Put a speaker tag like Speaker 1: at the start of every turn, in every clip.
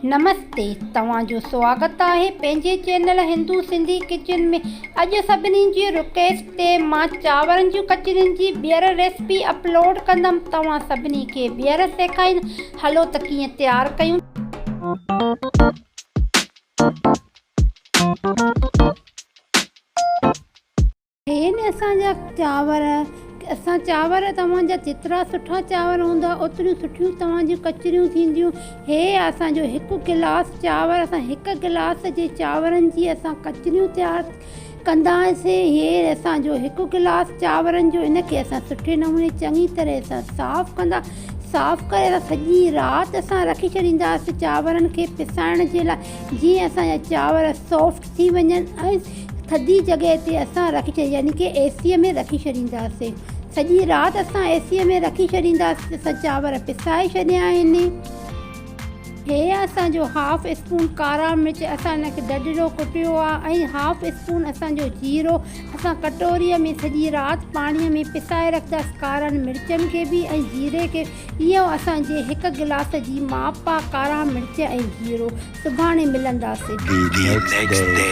Speaker 1: نمستي توهان جو سواگت آهي پنهنجي چينل هندو سنڌي ڪچن ۾ اڄ سڀني جي رڪيسٽ تي مان چانورن جون ڪچرين جي ٻيهر ريسپي اپلوڊ ڪندم توهان سڀني کي ٻيهر سيکائيندم هلو ته ڪيئن تيار ڪيون هين اسان جا چانور، اسان چانور توهان جا جيترا سٺا چانور هوندا، اوتريون سٺيون توهان جون ڪچريون ٿينديون. هي اسان جو هڪ گلاس چانور، اسان هڪ گلاس جي چانورن جي اسان ڪچريون تيار ڪنداسين. هي اسان جو هڪ گلاس چانورن جو، ان کي اسان سٺي نموني چڱي طرح سان صاف ڪندا، صاف ڪري اسان سڄي رات اسان رکي ڇڏينداسين چانورن کي پسائڻ جي لاء، جيئن اسان جا چانور سافٽ ٿي وڃن ۽ ٿڌي جڳهه تي اسان رکي ڇڏي يعني ڪي اي سي ۾ رکي ڇڏينداسين سڄي رات اسان اي سي ۾ رکي ڇڏينداسين ته اسان چانور پسائي ڇڏيا آهن هي اسان جو هاف اسپون ڪارا مرچ اسان ان کي ڊڊڙو ڪٽيو آهي ۽ هاف اسپون اسان جو جيرو اسان ڪٽوري ۾ سڄي رات پاڻي ۾ پسائي رکنداسين ڪارن مرچن کي به ۽ جيري کي به اهو اسان جي هڪ گلاس جي ماپ آهي ڪارا مرچ ۽ جيرو سڀاڻي ملنداسين. The next day.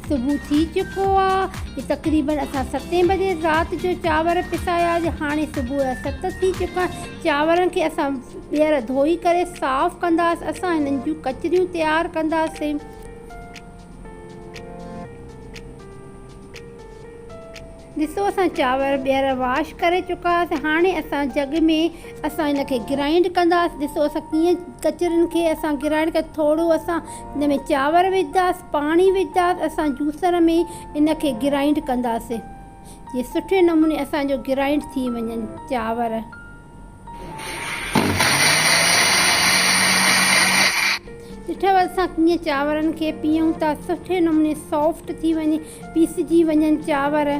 Speaker 1: صبح ٿي چڪو آ. تقريبن اسان ستين بجي رات جو چانور پسايا جي هاڻي صبح جا ست ٿي چڪا آهن. چانورن کي اسان ٻيهر ڌوئي ڪري صاف ڪنداس. اسان هنن جون ڪچريون تيار ڪنداسين. ڏسو اسان چانور ٻيهر واش ڪري چڪاسين هاڻي اسان جڳ ۾ اسان ان کي گرائنڊ ڪنداسين ڏسو اسان ڪيئن ڪچرن کي اسان گرائنڊ ڪري ٿورو اسان ان ۾ چانور وجهداسين پاڻي وجهداسين اسان جوسر ۾ ان کي گرائنڊ ڪنداسين جي سٺي نموني اسان جو گرائنڊ ٿي وڃن چانور ڏٺو اسان ڪيئن چانورن کي پيئون ٿا سٺي نموني سافٽ ٿي وڃي پيسجي وڃن چانور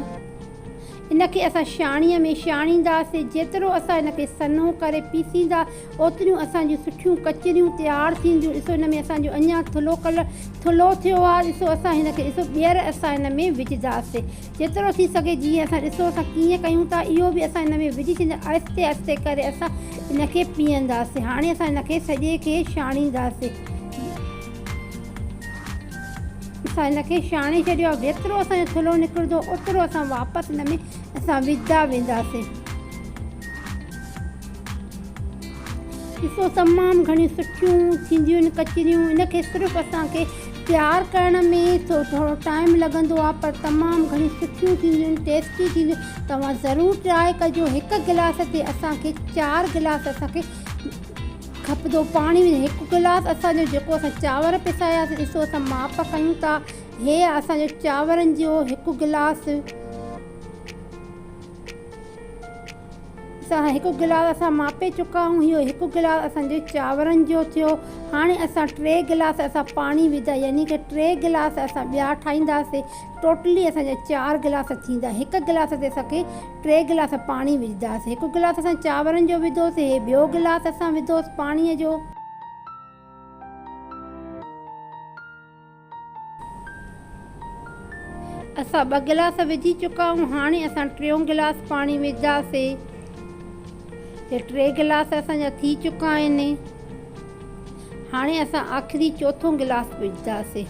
Speaker 1: ان کي اسان شاڻي ۾ شاڻينداسين جيترو اسان ان کي سنهو ڪري پيسيندا اوتريون اسان جون سٺيون ڪچريون تيار ٿينديون ڏسو ان ۾ اسان جو اڃان ٿلهو ڪلر ٿلهو ٿيو آهي ڏسو اسان هن کي ڏسو ٻيهر اسان هن ۾ وجهنداسين جيترو ٿي سگهي جيئن اسان ڏسو اسان ڪيئن ڪيون ٿا اهو به اسان ان ۾ وجهي ڇڏينداسين آهستي آهستي ڪري اسان ان کي پيهنداسين هاڻي اسان ان کي سڄي کي ڇاڻينداسين اسان ان کي ڇاڻي ڇڏيو آهي جيترو اسان جو ٿلهو نڪرندو اوترو اسان واپس ان ۾ اسان وجهندا وينداسين ڏسو تمام گهڻيون سٺيون ٿينديون آهن ڪچريون ان کي صرف اسان کي تيار ڪرڻ ۾ ٿورو ٽائيم لڳندو آهي پر تمام گهڻيون سٺيون ٿينديون آهن ٽيسٽي ٿينديون آهن توهان ضرور ٽرائي ڪجو هڪ گلاس تي اسان کي چار گلاس اسان کي کپندو پاڻي ۽ هڪ گلاس اسان جو جيڪو اسان چانور پساياسين ڏسو اسان ماپ ڪيون ٿا هي اسان جو چانورن جو هڪ گلاس اسان هڪ گلاس اسان ماپي چڪا آهيون اهو هڪ گلاس اسان جي چانورن جو ٿيو هاڻي اسان ٽي گلاس اسان پاڻي وڌا يعني ڪه ٽي گلاس اسان ٻيا ٺاهينداسين ٽوٽلي اسان جا چار گلاس ٿيندا هڪ گلاس تي اسان کي ٽي گلاس پاڻي وجهداسين هڪ گلاس اسان چانورن جو وڌوسين هي ٻيو گلاس اسان وڌوس پاڻي جو اسان ٻه گلاس وجهي چڪا آهيون هاڻي اسان ٽيون گلاس پاڻي وجهنداسين ته ٽي گلاس اسان جا ٿي چڪا آهن هاڻي اسان آخري چوٿون گلاس وجهنداسين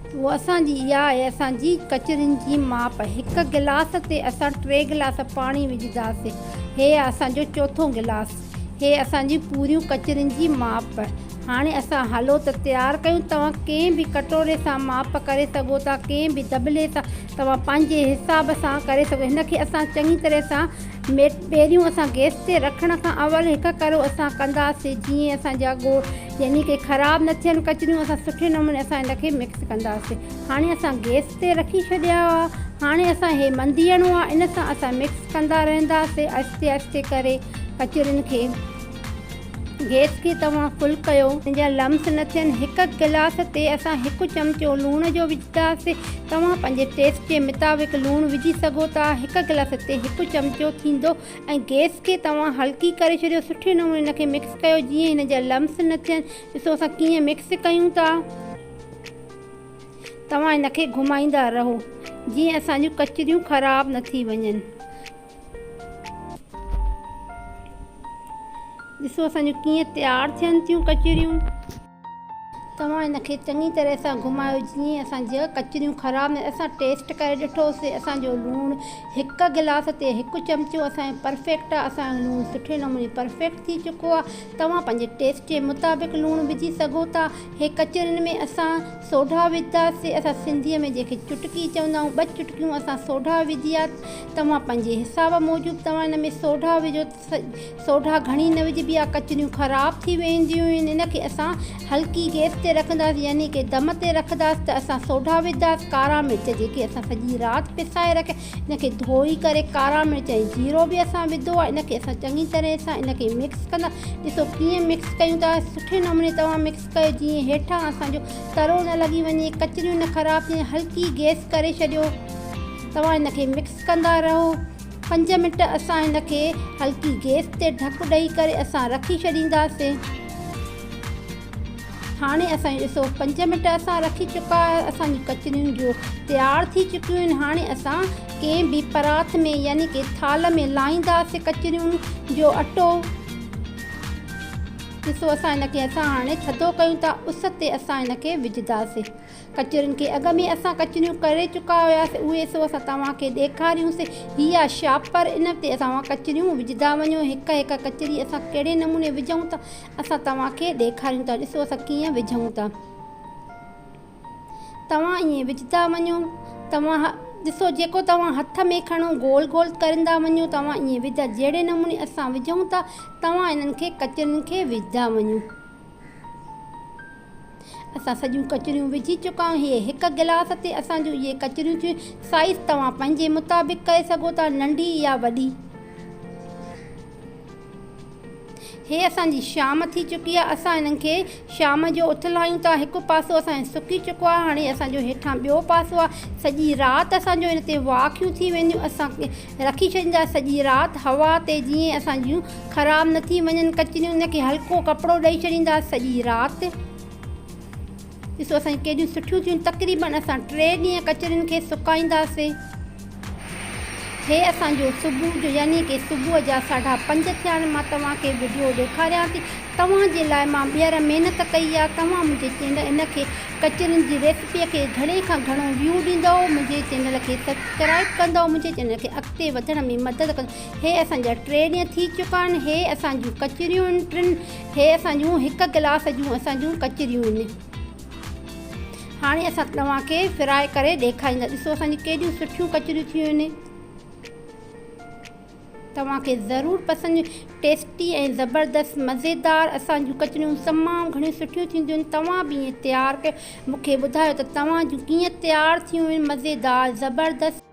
Speaker 1: اهو اسان جي اها آهي اسان جي ڪچرين جي ماپ هڪ گلاس تي اسان ٽي گلاس پاڻي وجهنداسين هي آهي اسان جو چوٿون گلاس هي اسان جون پوريون ڪچرين جي ماپ. هاڻي اسان هالو ته تيار ڪيون، توهان ڪنهن به ڪٽوري سان ماپ ڪري سگهو ٿا، ڪنهن به دٻلي سان، توهان پنهنجي حساب سان ڪري سگهو. هن کي اسان چڱي طرح سان ميٽ. پيريون اسان گيس تي رکڻ کان اول هڪ ڪرو اسان ڪنداسين جيئن اسان جا ڳوڙ يعني ڪي خراب نه ٿين ڪچريون اسان سٺي نموني اسان هن کي مڪس ڪنداسين هاڻي اسان گيس. تي رکي ڇڏيا هئا هاڻي اسان هي منديڻو آ ان سان اسان مڪس ڪندا رهنداسين آهستي آهستي ڪري ڪچورين کي گيس کي توهان فل ڪيو ان جا لمس نه ٿين هڪ گلاس تي اسان هڪ چمچو لوڻ جو وجهداسين توهان پنهنجي ٽيسٽ جي مطابق لوڻ وجهي سگهو ٿا هڪ گلاس تي هڪ چمچو ٿيندو ۽ گيس کي توهان هلڪي ڪري ڇڏيو سٺي نموني ان کي مڪس ڪيو جيئن ان جا لمس نه ٿين ڏسو اسان ڪيئن مڪس ڪيون ٿا. توهان هن کي گهمائيندا رهو جيئن اسان جون ڪچريون خراب نه ٿي وڃن. ڏسو اسان جون ڪيئن تيار ٿين ٿيون ڪچريون. توهان هن کي چڱي طرح سان گهمايو جيئن اسان جا ڪچريون خراب نه ٿين. اسان ٽيسٽ ڪري ڏٺو سي اسان جو لوڻ هڪ گلاس تي هڪ چمچو اسان جو پرفيڪٽ آهي. اسان جو لوڻ سٺي نموني پرفيڪٽ ٿي چڪو آهي. توهان پنهنجي ٽيسٽ جي مطابق لوڻ وجهي سگهو ٿا. هي ڪچهرين ۾ اسان سوڍا وڌا سي اسان سنڌي ۾ جنهن کي چٽڪي چوندا آهيون ٻه چٽڪيون اسان سوڍا وڌيا توهان پنهنجي حساب موجب توهان ان ۾ سوڍا وجهو سوڍا گهڻي نه وجهبي آهي ڪچهريون خراب ٿي وينديون آهن ان کي اسان هلڪي گئس تي رکنداسين يعني ڪي دم تي رکنداسين ته اسان سوڍا وڌا سي ڪارا مرچ جيڪي اسان سڄي رات پسائي رکيا ان کي ڌوئي ڪري ڪارا مرچ ۽ جيرو به اسان وڌو آهي ان کي اسان چڱي طرح سان ان کي مڪس ڪندا ڏسو ڪيئن مڪس ڪيون ٿا سٺي نموني توهان مڪس ڪيو جيئن هيٺان اسان جو ترو نه لڳي وڃي ڪچريون نه خراب ٿين هلڪي گيس ڪري ڇڏيو توهان ان کي مڪس ڪندا رهو پنج منٽ اسان ان کي هلڪي گيس تي ڍڪ ڏئي ڪري اسان رکي ڇڏينداسين هاڻي اسان ڏسو پنج منٽ اسان رکي چڪا اسان جون ڪچريون جو تيار ٿي چڪيون آهن هاڻي اسان ڪنهن به پراٿ ۾ يعني ڪي ٿالهه ۾ لاهيندا سي ڪچريون جو اٽو ڏسو اسان ان کي اسان هاڻي ٿڌو ڪيون ٿا اس تي اسان ان کي وجهدا سي ڪچرين کي اڳ ۾ اسان ڪچريون ڪري چڪا هيا سي اهي سو اسان توهان کي ڏيکاريون سي هي آهي شاپر ان تي توهان ڪچريون وجهدا وڃو هڪ هڪ ڪچري اسان ڪهڙي نموني وجهون ٿا اسان توهان کي ڏيکاريون ٿا ڏسو اسان ڪيئن وجهون ٿا توهان ائين وجهندا وڃو توهان ڏسو جيڪو توهان هٿ ۾ کڻو گول گول ڪرندا وڃو توهان ائين وجهندا جهڙي نموني اسان وجهون ٿا توهان انهن کي ڪچرين کي وجهندا وڃو اسان سڄيون ڪچريون وجهي چڪا آهيون هي هڪ گلاس تي اسان جون اهي ڪچريون ٿيون سائيز توهان پنهنجي مطابق ڪري سگهو ٿا ننڍي يا وڏي هي اسان جي شام ٿي چڪي آهي. اسان هنن کي شام جو اٿل آهيون تان هڪ پاسو اسان جو سڪي چڪو آهي. هاڻي اسان جو هيٺان ٻيو پاسو آهي. سڄي رات اسان جون ان تي واکيون ٿي وينديون. اسان رکي ڇڏيندا سڄي رات هوا تي جيئن اسان جون خراب نه ٿي وڃن ڪچريون. ان کي هلڪو ڪپڙو ڏئي ڇڏيندا سڄي رات. ڏسو اسان جون ڪيڏيون سٺيون ٿيون تقريبن اسان ٽي ڏينهن ڪچرين کي سڪائينداسين هي اسان جو صبح جو يعني ڪي صبح جا ساڍا پنج ٿيا آهن مان توهان کي وڊيو ڏيکاريان ٿي توهان جي لاء مان ٻيهر محنت ڪئي آهي توهان منهنجي چينل ان کي ڪچرين جي ريسپي کي گهڻي کان گهڻو ويو ڏيندو منهنجي چينل کي سبسڪرائب ڪندو منهنجي چينل کي اڳتي وڌڻ ۾ مدد ڪندو هي اسان جا ٽي ڏينهن ٿي چڪا آهن هي اسان جون ڪچريون ٽن هي اسان جون هڪ ڪلاس جون اسان جون ڪچريون آهن هاڻي اسان توهان کي فرائي ڪري ڏيکاريندا ڏسو اسان جون ڪيڏيون سٺيون ڪچريون ٿيون آهن توهان کي ضرور پسند ٽيسٽي ۽ زبردست مزيدار اسان جون ڪچريون تمام گهڻيون سٺيون ٿينديون آهن توهان به ائين تيار ڪيو مون کي ٻڌايو ته توهان جون ڪيئن تيار ٿيون آهن مزيدار زبردست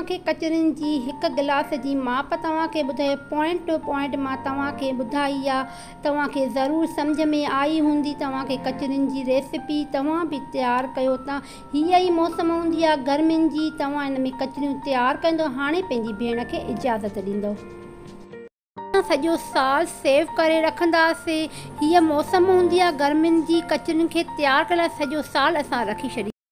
Speaker 1: توهان کي ڪچرين جي هڪ گلاس جي ماپ توهان کي ٻڌائي پوائنٽ ٽو پوائنٽ مان توهان کي ٻڌائي آ توهان کي ضرور سمجهه ۾ آئي هوندي توهان کي ڪچرين جي ريسيپي توهان به تيار ڪيو ته هي ئي موسم هوندي آ گرمين جي توهان ان ۾ ڪچريون تيار ڪندو هاڻي پنهنجي ڀيڻ کي اجازت ڏيندو اسان سڄو سال سيو ڪري رکنداسين هي موسم هوندي آ گرمين جي ڪچرين کي تيار ڪرڻ لاء سڄو سال اسان رکي ڇڏينداسين.